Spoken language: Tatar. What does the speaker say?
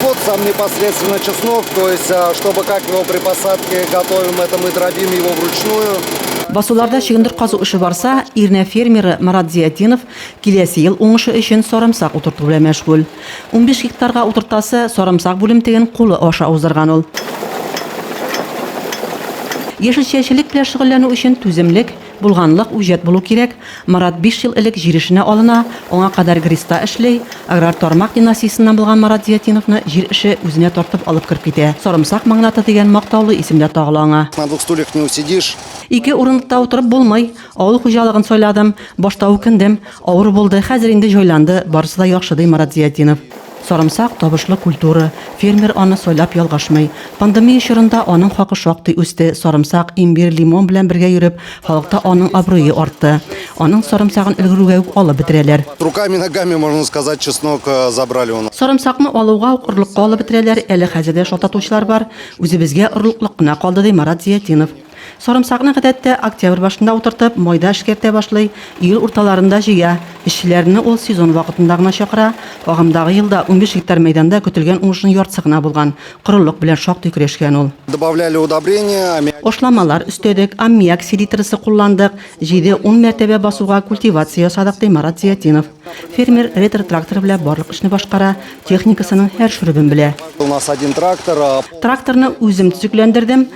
Вот сам непосредственно чеснок, то есть, а, чтобы как его при посадке готовим, это мы дробим его вручную. Басуларда чөгендер казу эше барса, Ирнә фермеры Марат Зиятдинов киләсе ел уңышы өчен сарымсак утырту белән мәшгуль. 15 гектарга утыртасы сарымсак бүлемтеген кулы аша уздырган ул. Яшелчәчелек белән шөгыльләнү өчен түземлек, Булганлык, үҗәт булу кирәк. Марат биш ел элек җир эшенә алына, аңа кадәр ГРИСта эшли. Аграр тармак династиясеннән булган Марат Зиятдиновны җир эше үзенә тартып алып кереп китә. Сарымсак магнаты дигән мактаулы исем дә тагыла аңа. На двух стульях не усидишь. Ике урындыкта утырып булмый. Авыл хуҗалыгын сайладым. Башта үкендем. Авыр булды, хәзер инде җайланды, барысы да яхшы, ди Марат Зиятдинов. Сарымсак, табышлы культура. Фермер аны сайлап ялгышмый. Пандемия чорында аның хакы шактый үсте, сарымсак, имбир, лимон белән бергә йөреп, халыкта аның абруе артты. Аның сарымсагын өлгерүгә үк алып бетерәләр. Руками-ногами, можно сказать, чеснок забрали у нас. Сарымсакны алуга ук орлыкка алып бетерәләр, әле хәзер дә шалтатучылар бар. Үзебезгә орлыклык кына калды, ди Марат Зиятдинов. Сарымсакны гадәттә октябрь башында утыртып, майда эшкәртә башлый, июль урталарында җыя. Эшчеләрне ул сезон вакытында гына чакыра. Агымдагы елда унбиш гектар мәйданда көтелгән уңышның яртысы гына булган. Корылык белән шактый көрәшкән ул. Добавляли удобрения, аммиак. Ашламалар өстәдек, аммиак селитрасы кулландык, җиде-ун мәртәбә басуга культивация ясадык, ди Марат Зиятдинов. Фермер ретро-трактор белән барлык эшне башкара, техникасының һәр шөребен белә. У нас один трактор. Тракторны үзем төзекләндердем.